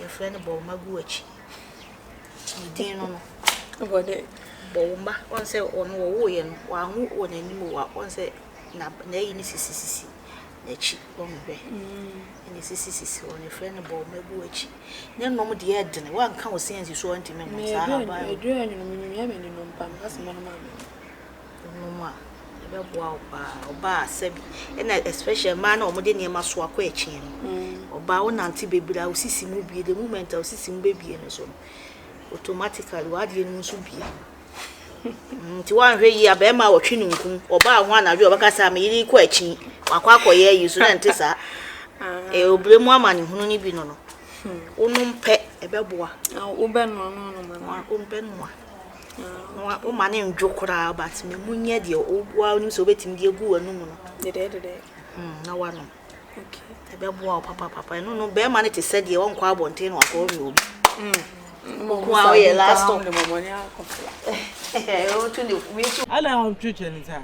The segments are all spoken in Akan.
Yɛfrɛ no bɔwoma gu w'akyi. Ne din no no. Ɛwɔ dɛ. Bɔwoma, wɔn sɛ ɔno wɔwoeɛ no, wɔanwo wɔ n'anim wɔ wɔn sɛ na n'ayi no sisisisi n'akyi wɔn hwɛ. Mm. Ɛna sisisisi wɔn yɛfrɛ no bɔwoma gu w'akyi. Ne nom deɛ ɛdene, wɔanka wo sɛ nsi so ɔntumi nom saa aban. Ɛduru anwene mu, nyamea mani nom paa, meka sɛ mɛnom amɛnom. nom a, ɛbɛboa wo paa. Ɔbaa a, sɛ bi, ɛna especially mmaa no a wɔde nneɛma soa kɔ akyin no. Mm. Ɔbaa wonante bebree a, wo sisi mu bie. The moment a wo sisi mu bebie no so no, automatically w'adeɛ no mu nso bie. Mm, nti woanhwɛ yie a, bɛrima a wɔtwe no nkum. Ɔbaa ho anadwo a, ɔbɛka sɛ, "Ah, me yere kɔ akyin. Wakɔ akɔyɛ ayi so na ɛnte saa. Ah. Eh, obire mu amanehunu no bi no no, hmm. wonom pɛ, ɛbɛboa. Ah, wobɛnoa no anoma no. Wobɛnoa. Woma no ndwo koraa but ma emu nyɛ deɛ woara wonim sɛ wobɛtumi de agu w'anum no. Dedɛɛdedɛɛ. Hmm, na woanom. Okay. Ɛbɛboa wo papapapa. Ɛno no, bɛrima no te sɛ deɛ ɔnkɔ abɔnten na wakɔ ɔwe obi. Hmm. Mo ko a woyɛ last stop. Wotu ne wei so. Ana wɔn twitwi ne saa.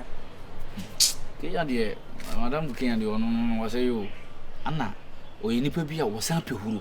Kenya deɛ, madam Kenya deɛ ɔno no wɔsɛ yo, ana ɔyɛ nipa bi a wɔsan pɛ huro.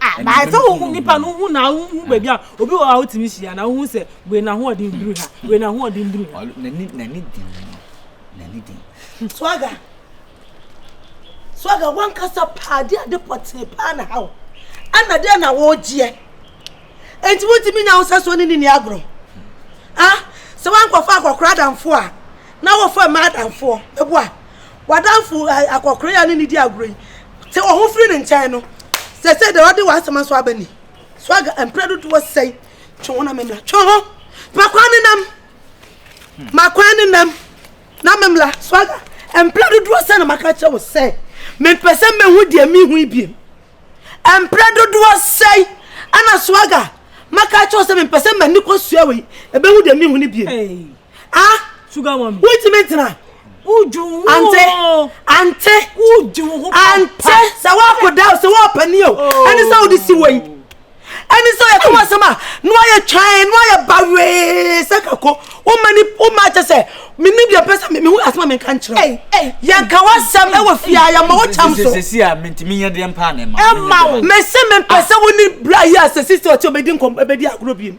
Ɛnam sɛ wohu nnipa no, wohu na wohu baabi a obi wɔ a wotumi hyia na wohu sɛ wei n'ahoɔden duru ha, wei n'ahoɔden duru ha. N'ani n'ani den no, n'ani den. Swaga, swaga wankasa paa de ade pɔtee paa na ha wo. Ɛna deɛ na wɔregyeɛ. Enti wotumi nya wo sɛ so ne ne ni agorɔ. Ah, sɛ wankɔfa akɔkora adamfoɔ a, na wɔfa mmaa adamfoɔ. Meboa. w'adamfo akɔkoree a ne ne di agorɔ yi te wo ho firi ne nkyɛn no sɛ sɛ deɛ ɔde w'asɛm aso aba ni so aga mprɛ dodoɔ sɛn twe ho na memla twe ho makwan ne nam makwan ne nam na memla so aga mprɛ dodoɔ sɛn na maka kyerɛ wo sɛ mempɛ sɛ mehu deɛ mehu yi biem mprɛ dodoɔ sɛn ana so aga maka kyerɛ wo sɛ mempɛ sɛ m'ani kɔ sua wei ɛbɛhu deɛ mehu no biem ah sugar mami wotumi ntena ante ante ante sɛ woakoda o sɛ woapani o ɛne sɛ wode si wɔ yi ɛne sɛ yɛka wɔ asɛm a na wayɛ twan na wayɛ bawee sɛ kako woma ni woma kyɛ sɛ menim deɛ pɛ sɛ mehu asɛm a menka nkyerɛ yɛnka w'asɛm ɛwɔ fie a yɛma wo kyɛm so sɛsi a mentumi nyɛ deɛ mpaa ne ma ɛma wo mese mempɛ sɛ wo ne bra yi a sɛsi sɛ ɔte ɔbɛdi nkɔm ɛbɛdi agorɔ biem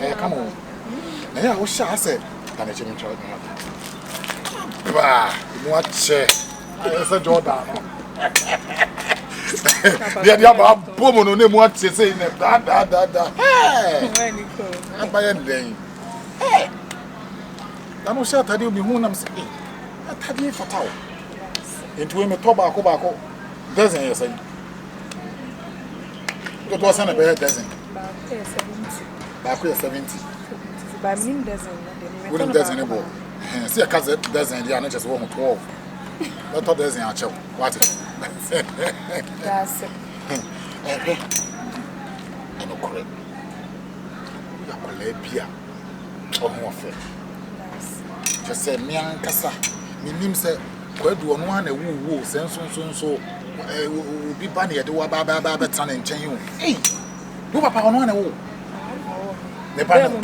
ɛyɛ kama o na yɛ a wohyɛ a sɛ dane kyɛ mentwa ne hata baa mu akyɛ ayɛ sɛ jordan no deɛ deɛ aba abɔ mu no na mu akyɛ sɛ nɛ daadaadaada abayɛ ndɛn na no hyɛ atadeɛ mehu nam sɛ atadeɛ fata o nti wei metɔ baako baako dɛsɛn yɛ sɛn Dodoɔ sɛ na bɛyɛ dozen. Baako yɛ seventy. Baako yɛ seventy. Baa mi nim dozen no de. Wo nim dozen ne bɔ. Ɛhɛn sɛ ɛka zɛ dozen deɛ a ne kyɛ sɛ wɔn twelve. Bɛtɔ dozen akyɛw. Wate. Daase. Ɛhwɛ. Ɛno korɛ. Wo yɛ akwadaa bi a ɔho ɔfɛ. Daase. Kyɛ sɛ mmea nkasa. Menim sɛ. Kwadu, ɔno ara na ɛwoo wo o, sɛ nsonso nso obi ba na yɛde wo aba aba aba abɛtena ne nkyɛn o. Ei, wo papa ɔno ara na ɛwoo wo. Ne ba no.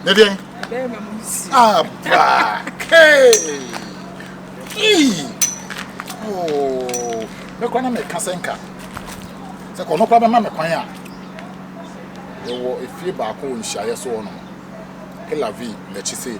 Ne deɛn? Abra. Hey. Ei. Oh. Mekora na meka sɛ nka. Sɛ kɔ no kora bɛma me kwan a. Yɛwɔ efie baako wɔ nhyiaeɛ so hɔ nom. Elavi n'akyi sei.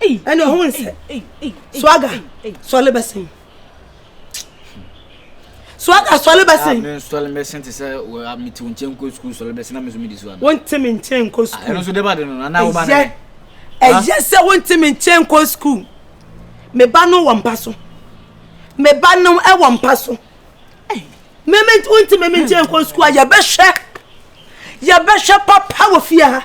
ɛne ɔhun sɛ swaga sɔle bɛsen swaga sɔle bɛsen. mi sɔle bɛsen ti sɛ wɔ mi ti o nkyɛn nkɔ sukuu sɔle bɛsen na mi nso mi di so abi. wɔn ti mi nkyɛn nkɔ sukuu. ɛno nso de ba de no nana ɔba ne. ɛyɛ sɛ wɔn ti mi nkyɛn nkɔ sukuu mi ba no wɔ mpa so mi ba no wɔ mpa so mi mi wɔn ti mi mi nkyɛn nkɔ sukuu a yɛ bɛ hwɛ yɛ bɛ hwɛ papa wɔ fie ha.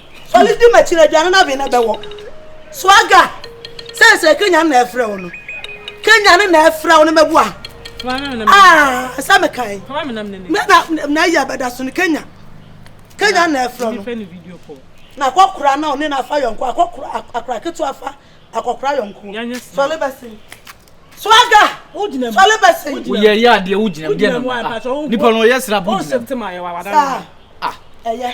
Fɔle di m'akyi na aduane no aben na ɛbɛwɔ. Swaga, seesei Kenya na ɛfrɛ wo no. Kenya no na ɛfrɛ wo no mɛboa. Ah, sɛ mekae. Me na na ayi abɛda so no Kenya. Kenya na ɛfrɛ wo no. Na akɔkora na ɔne na afa yɔnko akɔkora akora ketewa afa akɔkora yɔnko. Fɔle bɛsen. Swaga, fɔle bɛsen. Woyɛ yɛ adeɛ wogyina mu deɛ na nipa no ɔyɛ sra bo gyina mu. Saa, ɛyɛ.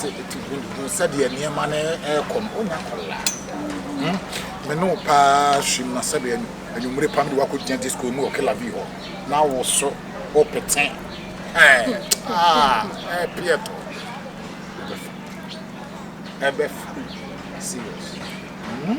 te te hu hu sɛdeɛ nneɛma no ɛrekɔ no onya kɔla hmm me ne wo paa hyim na sɛdeɛ anwummere pam de wakɔ gyina disco mu wɔ kila bi hɔ na wo so wo pete ɛɛ ah ɛɛ peɛ tɔ ɛbɛfa serious hmm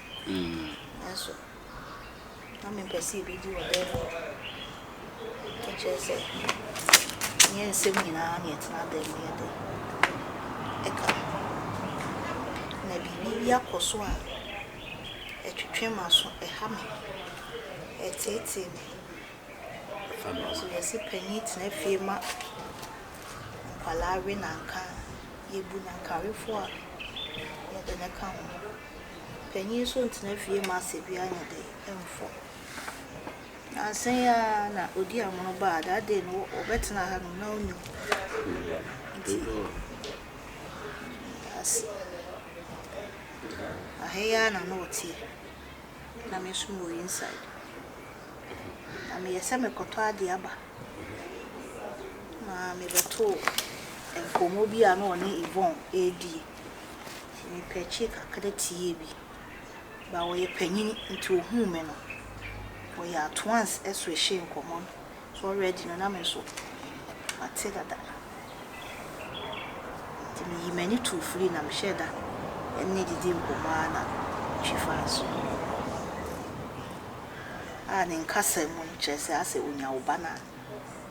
Nanso na mempɛ sɛ yɛbɛdi wɔ dan mu. Meka kyerɛɛ sɛ ɛnyɛ nsɛm nyinaa na yɛtena dan mu yɛ de ka. Na biribi bi akɔ so a ɛtwetwe m'aso, ɛha me, ɛteetee me. Nanso yɛse panin tena fie ma nkwadaa we na anka yɛbu no anka awefoɔ a yɛde no ka ho. Panyin so ntena fie ma asɛbi anyɛ dɛ mfɔ. Nnansa yi ara na odi amono baa that day no wɔbɛtena ha nom na ɔnni hɔ. Nti ase aha yi ara na na ɔteɛ na me nso mewɔ inside. Na meyɛ sɛ mekɔtɔ adeɛ aba na mebɛtoo nkɔmmɔ bi a na ɔne Yvonne ɛredie. Ɔyɛɛ pɛkyee kakra tiee bi. Ba ɔyɛ panyin nti ohuu me no, ɔyɛɛ at once swehee nkɔmmɔ no. So already no na me nso mate dada. Nti miyii m'ani too firi na mehyɛɛ da ne didii nkɔmmɔ ara na metwi faa so. A ne nkasa mu no kyerɛ sɛ asɛ onya wo ba no a.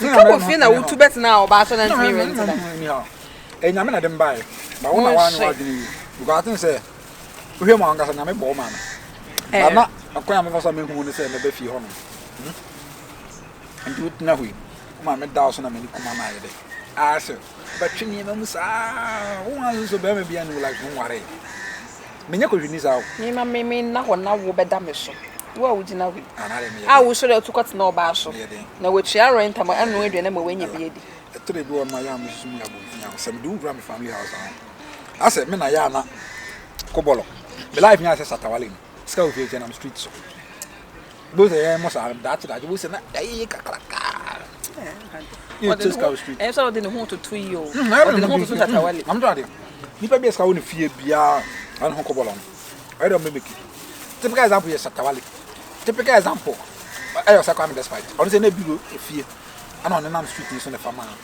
Nsa wɔ fie na wotu bɛtena a ɔbaa so na ntumi wɛ ntena. Enyame na de mbae. Ba wo na wa no adwene yi. Because atin sɛ wohwɛ mu ankasa nyame bɔ ma me. Ba na akwan a mefa so me hu ne sɛ mɛbɛ fie hɔ no. Nti wo tena hɔ yi. Wo ma me da so na me ne kuma ma ayɛ dɛ. Aa sɛ. bɛtwe nneɛma mu saa wo wan so bɛrima bia ne wo like ho nware menyɛ kɔhwini saa o mema me me nna hɔ na wo bɛda me so wo a wogyina hɔ yi a wosɔre atu kɔtena ɔbaa so na watua rent ama ɛno aduane ama wanya bi adi ɛtɔ da bi wɔ no ma yɛ a mesusu mu yɛ abɔnten a sɛ mede wo kura me family house ho asɛ me na yɛ ana kɔbɔlɔ me life nyɛ asɛ satawale no sika wɔ fie kyɛ nam street so Both a yɛn mo saa daakye daakye both na ɛyɛ kakraka. Yɛ test cow street. Ɛyɛ sɛ ɔde ne ho toto yi o. Ɔde ne ho toto tatawale. Nam to ade. Nipa bi ɛsika wo ne fie bia ɛne ho kɔbɔ lɔn. Ɛyɛ dɛ mimiki. Typical example yɛ tatawale. Typical example ɛyɛ ɔsɛ kwa me despite. Ɔno sɛ na bi fie. Ana ɔne nam street ni so ne fama.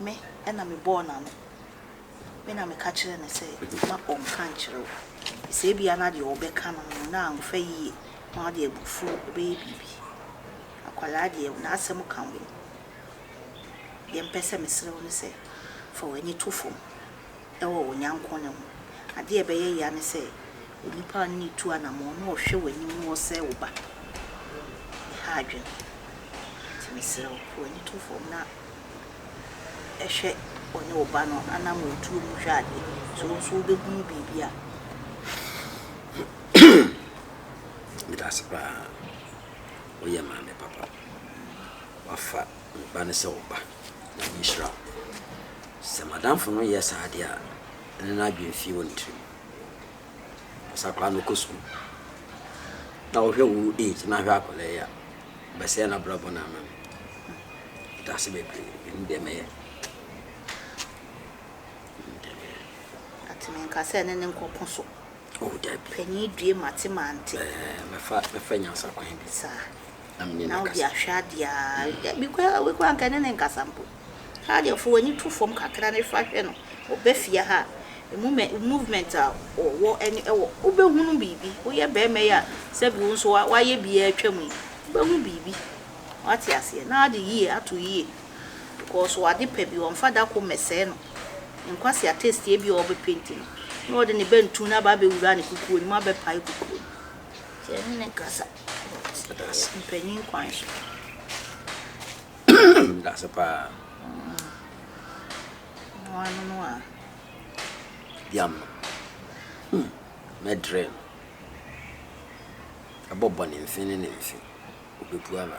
Me na mebɔɔ n'ano. Me na meka kyerɛɛ no sɛ mma ɔnnka nkyerɛ wo. Sɛ ebia na deɛ ɔbɛka no no, na amfa yie na ɔde abufuo bɛyɛ biribi. Akwadaa deɛ, n'asɛm ka ho. Deɛ mepɛ sɛ mesrɛ wo ne sɛ, fa w'ani to fam. wɔ wo nyɛnko no ho. Adeɛ a ɛbɛyɛ yea ne sɛ onipa a ɔne no retu anamɔn no rehwɛ w'anim na ɔresɛe wo ba. Ɛha adwene. Nti mesrɛ wo, fa w'ani to fam na hwɛ ɔne wo ba no anamɔntuo mu hwɛ adeɛ. Sɛ wo nso wobɛhunu biribi a. Meda ase paa. Woyɛ maame papa. Wafa. Me ba no sɛ wo ba, na menhyira wo. Sɛ m'adamfo no yɛ saa ade a, ɛno na adwene fii wɔ ne tirim. Ɔpɛ sɛ akwadaa no kɔ sukuu. Na wohwɛ wo age na ahwɛ akwadaa yi a, ɔbɛsɛe n'abrabɔ no ama me. Meda ase bebree. Menim deɛ mɛyɛ. Menim deɛ mɛyɛ. Enti menka sɛ ɛne no nkɔko so. Oh dabi. Panin due mate mante. Ɛɛ mɛfa mɛfa nyansa kwan bi. Saa. Na mene no akasa. Na wode ahwɛ adeɛ aa. Mm. Dabi koraa wei koraa nka ne ne nkasa mpo. Haa deɛ fo w'ani to fam kakra ne fa hwɛ no. Ɔba fie ha a, emu mɛ movement a ɔwɔ ɛne ɛwɔ wobɛhunu biribi. Woyɛ barima yi a sɛbi wo nso wa wayɛ bi atwam yi, wobɛhu biribi. Wate aseɛ? Na ade yie ato yie. because ɔwɔ ade pa bi ɔmfa da koro mmɛsɛe no nkwa si atɛstie bi a ɔbɛ penti no na ɔde ne bɛntu no aba abɛwura ne kukuo no mu abɛ pae kukuo no nti ɛne ne nkasa but mpanyin kwan so. That's a pa. No ano no a. Yam. Hmm. Medre. ɛbɔ bɔne mfe ne ne mfe, obepue aba.